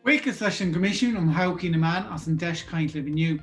Buíochas leis an gCoimisiún um Thodhchaí na Meán as an deis caint libh inniu.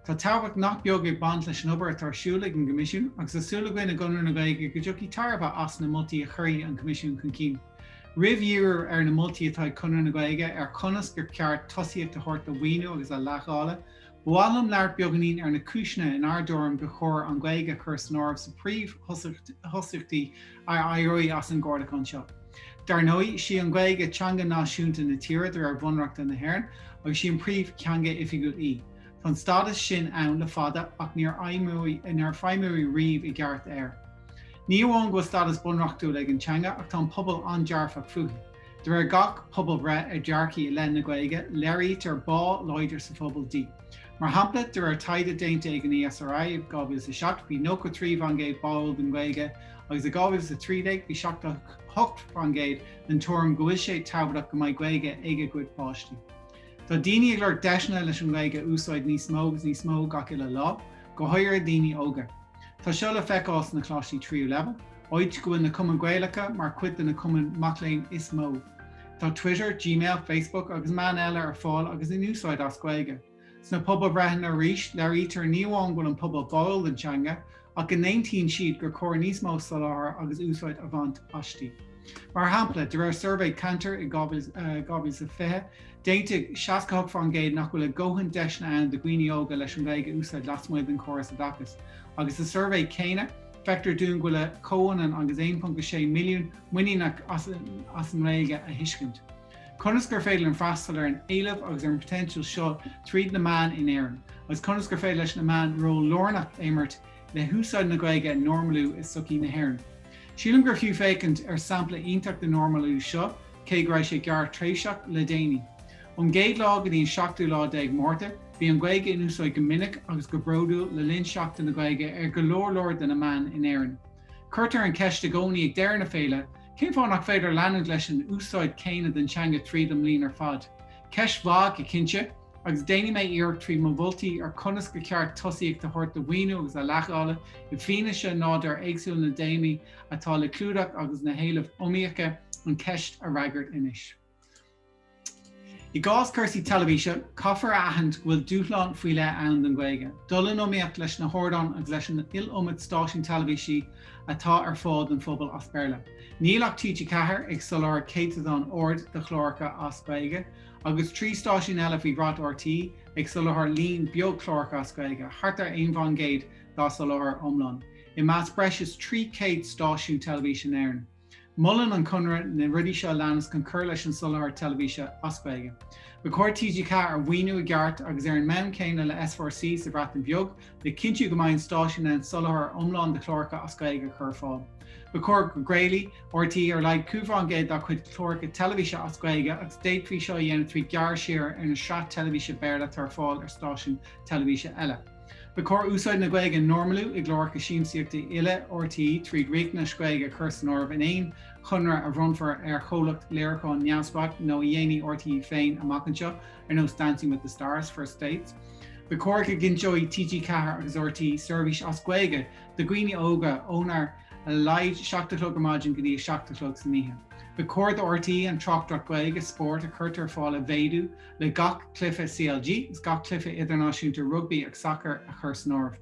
Tá tábhacht nach beag ag baint leis an obair atá ar siúl ag an gCoimisiún agus tá súil againn i gConradh na Gaeilge go dtiocfaidh tairbhe as na moltaí a chuirfidh an Coimisiún chun cinn. Roimh dhíriú ar na moltaí atá ag Conradh na Gaeilge ar chonas gur ceart tosaíocht a thabhairt do mhaoiniú agus a leithdháileadh, Ba mhaith liom labhairt beagáinín ar na cúiseanna in ár dtuairim gur chóir an Ghaeilge a chur san áireamh sna príomhthosaíochtaí a éireoidh as an gcomhairliúchán seo. Dar ndóigh, sí an Ghaeilge teanga náisiúnta na tíre de réir Bhunreachta na hÉireann agus sí an príomhtheanga oifigiúil í. Tá an stádas sin ann le fada ach níor feidhmíodh riamh i gceart air. Ní amháin go bhfuil stádas bunreachtúil ag an teanga ach tá an pobal an-dearfach fúithi. De réir gach pobalbhreith ar dhearcthaí i leith na Gaeilge, léirítear bá láidir sa phobal di. Mar shampla, de réir taighde déanta ag an ESRI i 2007, bhí 93% báúil don Ghaeilge agus i 2013 bhí 78% den tuairim go bhfuil sé tábhachtach go mbeidh Gaeilge ag a gcuid páistí. Tá daoine ag lorg deiseanna leis an nGaeilge a úsáid níos mó agus níos mó gach uile lá, go háirithe daoine óga. Tá seo le feiceáil sna Coláistí Tríú Leibhéal, áit go bhfuil na Cumainn Gaelacha mar chuid de na cumainn mac léinn is mó. Tá Twitter, Gmail, Facebook agus meáin eile ar fáil agus in úsáid as Gaeilge. Sna pobalbhreitheanna arís, léirítear ní amháin go bhfuil an pobal báúil don teanga, ach go n-aontaíonn siad gur chóir níos mó soláthar agus úsáid a bhaint aisti. Mar shampla, de réir suirbhé Kantar i 2020, D'aontaigh 68% nach bhfuil a ndóthain deiseanna ann do dhaoine óga leis an Ghaeilge a úsáid lasmuigh den chóras oideachais, agus sa suirbhé céanna, feictear dúinn go bhfuil a chomhionann agus 1.6 milliún muiníneach as an nGaeilge a thuiscint. Conas gur féidir linn freastal ar an éileamh agus ar an poitéinseal seo tríd na meáin in Éirinn, agus conas gur féidir leis na meáin ról lárnach a imirt le húsáid na Gaeilge a normalú i sochaí na hÉireann? Sílim gur fiú féachaint ar sampla iontach den normalú seo, cé go raibh sé gearrthréimhseach le déanaí. Ón gcéad lá go dtí an seachtú lá déag Márta, bhí an Ghaeilge in úsáid go minic agus go bródúil le linn Sheachtain na Gaeilge ar go leor leor de na meáin in Éirinn. Cuirtear an cheist i gcónaí ag deireadh na féile, cén fáth nach féidir leanúint leis an úsáid chéanna den teanga tríd an mbliain ar fad? Ceist mhaith go cinnte, agus déanfaidh mé iarracht trí mo mholtaí ar chonas gur cheart tosaíocht a thabhairt do mhaoiniú agus a leithdháileadh, i bhfianaise nádúr éagsúil na dtéamaí, atá le clúdach agus na héilimh iomaíocha an cheist a fhreagairt anois. I gcás cúrsaí teilifíse, caithfear a aithint go bhfuil dúshlán faoi leith ann don Ghaeilge, dul in iomaíocht leis na hardáin agus leis an iliomad stáisiún teilifíse atá ar fáil don phobal as Béarla. Níl ach TG4 ag soláthar céatadán ard de chláracha as Gaeilge, agus trí stáisiún eile faoi bhrat RTÉ ag soláthar líon beag cláracha as Gaeilge, thart ar aon faoin gcéad dá soláthar iomlán, i measc breis is 300 stáisiún teilifíse in Éirinn. Molann an Conradh na rudaí seo a leanas chun cur leis an soláthar teilifíse as Gaeilge. Ba chóir TG4 a mhaoiniú i gceart agus ar an mbonn céanna le S4C sa Bhreatain Bheag, le cinntiú go mbeidh an stáisiún in ann soláthar iomlán de chláracha as Gaeilge a chur ar fáil. Ba chóir go gcraolfaidh RTÉ ar a laghad 5 faoin gcéad dá chuid cláracha teilifíse as Gaeilge agus d'fhéadfaí seo a dhéanamh trí ghearradh siar ar na sraith teilifíse Béarla atá ar fáil ar stáisiúin teilifíse eile. Ba chóir úsáid na Gaeilge a normalú i gcláracha siamsaíochta uile RTÉ tríd riachtanas Gaeilge a chur san áireamh in aon chonradh a bhronnfar ar chomhlacht léiriúcháin neamhspleách nó a dhéanfaidh RTÉ féin amach anseo, ar nós Dancing with the Stars, First Dates. Ba chóir go gcinnteoidh TG4 agus RTÉ seirbhís as Gaeilge do dhaoine óga ó ar a laghad seacht a chlog ar maidin go dtí a seacht a chlog san oíche. Ba chóir do RTÉ an tráchtaireacht Ghaeilge spóirt a chuirtear ar fáil a mhéadú le gach cluiche CLG is gach cluiche idirnáisiúnta rugbaí agus sacair a chur san áireamh.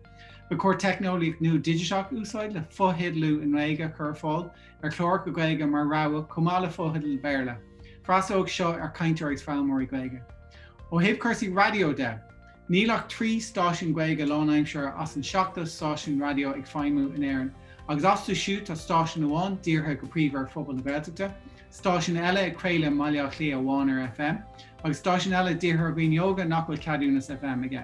Ba chóir teicneolaíocht nua dhigiteach a úsáid le fotheidealú i nGaeilge a chur ar fáil ar chláracha Gaeilge mar rogha chomh maith le fotheidil Bhéarla. Freastlóidh seo ar chainteoirí is foghlaimeoirí Gaeilge. Ó thaobh cúrsaí raidió de, Níl ach trí stáisiún Gaeilge lánaimseartha as an seachtó stáisiún raidió ag feidhmiú in Éirinn, agus astu siúd tá stáisiún amháin dírithe go príomha ar phobal na Gaeltachta, stáisiún eile ag craoladh i mBaile Átha Cliath amháin ar FM, agus stáisiún eile dírithe ar dhaoine óga nach bhfuil ceadúnas FM aige.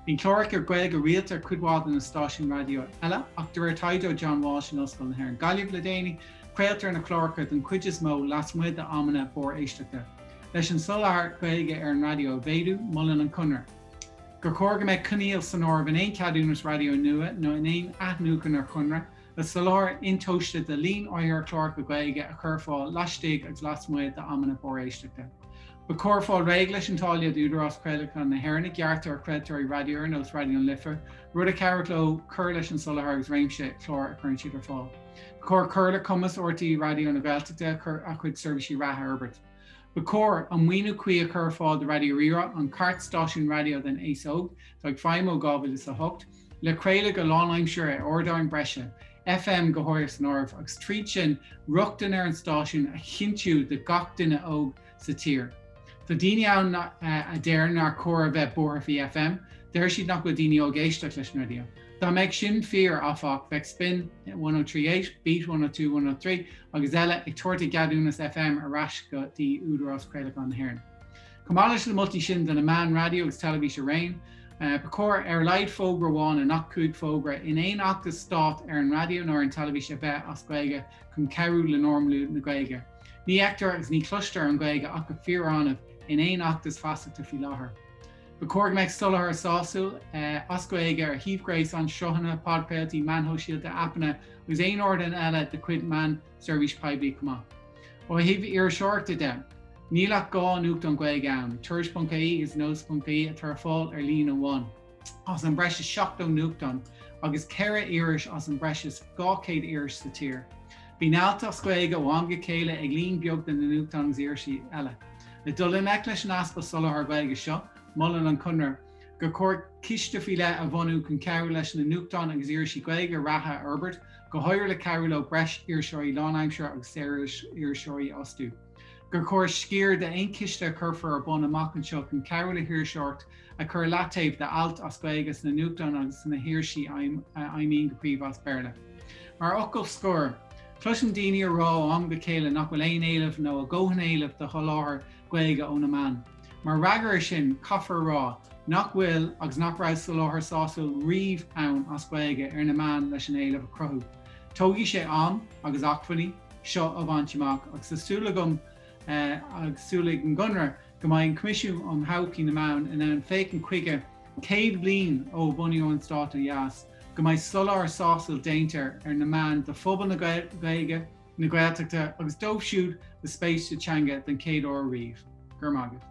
Bíonn cláracha Gaeilge rialta ar chuid mhaith de na stáisiúin raidió eile, ach de réir taighde ó John Walsh in Ollscoil na hÉireann Gaillimh le déanaí, craoltar na cláracha den chuid is mó lasmuigh d'amanna barr-éisteachta. Leis an soláthar Gaeilge ar an raidió a mhéadú, molann an Conradh, Gur chóir go mbeadh coinníoll san áireamh in aon cheadúnas raidió nua nó in aon athnuachan ar chonradh le soláthar intomhaiste de líon áirithe cláracha Gaeilge a chur ar fáil laistigh agus lasmuigh d'amanna barr-éisteachta. Ba chóir fáil réidh leis an táille d'Údarás Craolacháin na hÉireann a ghearrtar ar chraoltóirí raidió ar nós Raidió na Life, rud a chabhródh leo cur leis an soláthar agus réimse clár a chuireann siad ar fáil. chóir cur le cumas RTÉ Raidió na Gaeltachta a chuid seirbhísí reatha a fhorbairt. Ba chóir, an maoiniú cuí a chur ar fáil do Raidió Rí-Rá, an cairt-stáisiún raidió don aos óg, atá ag feidhmiú ó 2008, le craoladh go lánaimseartha ar ardáin breise, FM go háirithe san áireamh, agus tríd sin rochtain ar an stáisiún a chinntiú do gach duine óg sa tír. Tá daoine ann a deir nár chóir a bheith buartha faoi FM, deir siad nach bhfuil daoine óga ag éisteacht leis an raidió. Dá mbeadh sin fíor, áfach, bheadh Spin 1038, Beat 102 103 agus eile ag tabhairt a gceadúnas FM ar ais go dtí Údarás Craolacháin na hÉireann. Chomh maith leis na moltaí sin do na meáin raidió agus teilifís araon, ba chóir, ar a laghad, fógra amháin i ngach cúig fógra in aon fheachtas stáit ar an raidió nó ar an teilifís a bheith as Gaeilge chun cabhrú le normalú na Gaeilge. Ní fheictear agus ní chloistear an Ghaeilge ach go fíor-annamh in aon fheachtas feasachta faoi láthair. Ba chóir go mbeadh soláthar sásúil as Gaeilge ar shuímh ghréasáin, sruthanna, podchraoltaí, meáin shóisialta, aipeanna agus aon ardán eile de chuid meán seirbhís poiblí chomh maith. Ó thaobh iriseoireachta de, níl ach dhá nuachtán Gaeilge ann, Tuairisc.ie agus Nós.ie, atá ar fáil ar líne amháin. as an mbreis is 70 nuachtán agus ceithre iris as an mbreis is 200 iris sa tír. Bíonn ailt as Gaeilge ó am go chéile ag líon beag de na nuachtáin agus irisí eile. Le dul i ngleic leis an easpa soláthar Gaeilge seo, molann an Conradh gur chóir ciste faoi leith a bhunú chun cabhrú leis na nuachtáin agus irisí Gaeilge reatha a fhorbairt, go háirithe le cabhrú leo breis iriseoirí lánaimseartha agus saoririseoirí a fhostú. gur chóir sciar d'aon chiste a chuirfear ar bun amach anseo chun cabhrú le hiriseoireacht a chur i leataobh d'ailt as Gaeilge sna nuachtáin agus sna hirisí a fheidhmíonn go príomha as Béarla. Mar fhocal scoir, cloisim daoine ag rá ó am go chéile nach bhfuil aon éileamh, nó a ndóthain éileamh, do sholáthar Gaeilge ó na meáin. Mar fhreagra ar sin, caithfear a rá nach bhfuil agus nach raibh soláthar sásúil riamh ann as Gaeilge ar na meáin leis an éileamh a chruthú. Tógfaidh sé am, agus acmhainní, seo a bhaint amach agus tá súil agam agus súil ag an gConradh go mbeidh an Coimisiún um Thodhchaí na Meán in ann féachaint chuige, céad bliain ó bunaíodh an Stát ó dheas, go mbeidh soláthar sásúil déanta ar na meáin do phobal na Gaeilge, na Gaeltachta agus dóibh siúd le spéis sa teanga den chéad uair riamh. Go raibh maith agat.